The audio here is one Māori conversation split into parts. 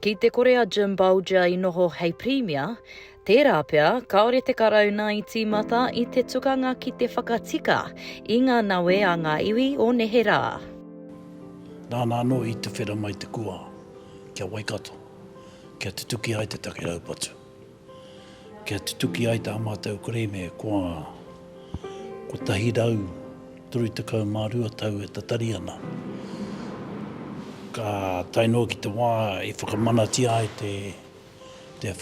Ki te kore a Jim Bolger i noho hei Pirimia, tērā pea kāore te Karauna i tīmata i te tukanga ki te whakatika i ngā nawe a ngā iwi o nehe rā. Nāna anō i tuwhera mai te kua ki a Waikato kia tutuki ai te take raupatu. Kia tutuki ai tā mātou kerēme kua 132 tau e tatari ana, ka tae noa ki te wā i whakamanatia ai te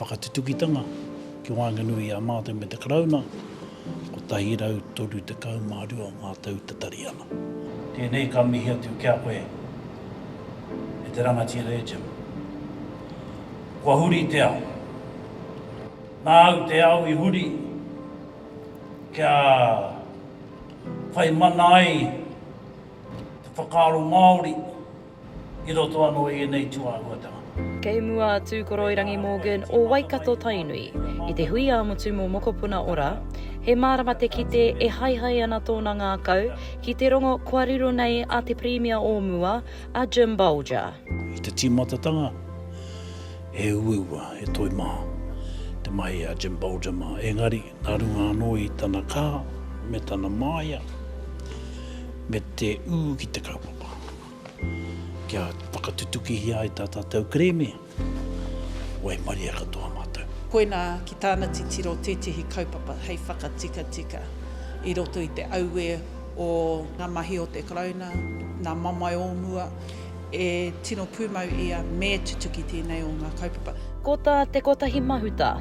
whakatutukitanga ki waenganui i a mātou me te Karauna, 132 ngā tau tatari ana. Tēnei ka mihi atu ki a koe, e te rangatira e Jim. Kua huri te ao. Nā au te ao i huri kia whai mana ai te whakaaro Māori i roto anō i ēnei tūāhuatanga. Kei mua a Tūkoroirangi Morgan o Waikato, Tainui, i te hui ā-motu mō Mokopuna Ora. He mārama te kite e haehae ana tōna ngākau ki te rongo kua riro nei a te Pirimia o mua, a Jim Bolger. I te tīmatatanga, he uaua, he toi maha te mahi a Jim Bolger mā, engari, nā runga anō i tana kaha me tana māia, me te ū ki te kaupapa, kia whakatutukihia ai tā tātou kerēme, waimaria katoa mātou. Koinā, ki tāna titiro, tētehi kaupapa hei whakatikatika i roto i te auē o ngā mahi o te Karauna, nā mamae o mua, E tino pūmau ia me tutuki tēnei o ngā kaupapa. Ko tā Te Kotahi Mahuta,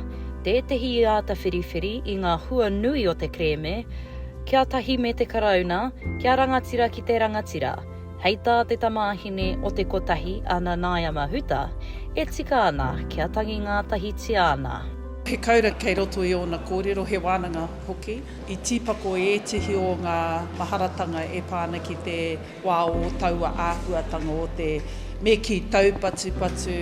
tētehi i āta whiriwhiri i ngā hua nui o te kerēme, Kia tahi me te Karauna, kia rangatira ki te rangatira. Hei tā te tamāhine o Te Kotahi a Nanaia Mahuta, e tika ana kia tangi ngātahitia ana. He kaura kei roto i ōna kōrero, he wānanga hoki. I tīpako ētehi o ngā maharatanga e pā ana ki te. wā o taua āhuatanga o te me kī taupatupatu,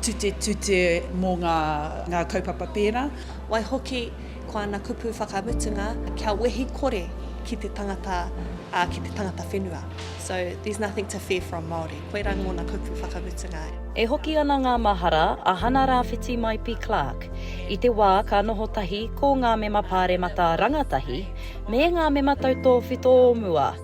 tutetute mō ngā kaupapa pērā. Waihoki, ko ana kupu whakamutunga, kia wehi kore ki te tangata, ā, ki te tangata whenua. So, there's nothing to fear from Māori. Koirā ngōna kupu whakamutunga. E hoki ana ngā mahara a Hana Rāwhiti Maipi Clark i te wā ka noho tahi ko ngā mema pāremata rangatahi me ngā mema tautōwhito o mua,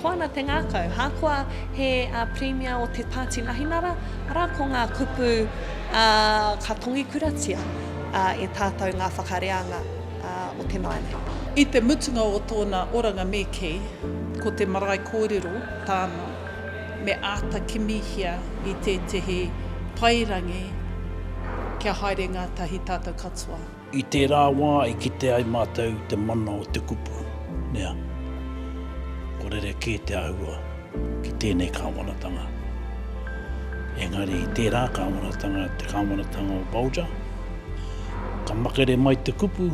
Ko ana te ngākau, ahakoa he Pirimia o te Pāti Nahinara, arā ko ngā kupu ka tongikuratia e tātou ngā whakareanga o te marae nei. I te mutunga o tōna oranga me kī, ko te marae kōrero tāna, me āta kimihia i tētehi paerangi kia haere ngātahi tātou katoa. I tērā wā i kite ai mātou te mana o te kupu, nea, ko rerekē te āhua ki tēnei kāwanatanga. Engari i tērā kāwanatanga, te kāwanatanga o Bulger, ka makere mai te kupu,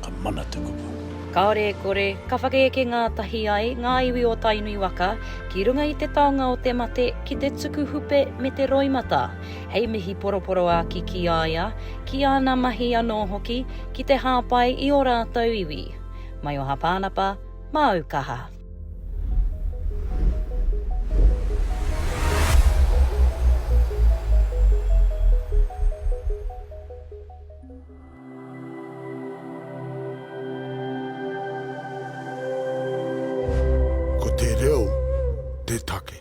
ka mana te kupu. Kāore e kore, ka whakaeke ngātahi ai ngā iwi o Tainui waka ki runga i te taonga o te mate ki te tuku hupe me te roimata. hei mihi poroporoāki ki a ia, ki āna mahi anō hoki ki te hāpai i ō rātou iwi. Mai o Hapānapa, māu kaha. Ko te reo te take.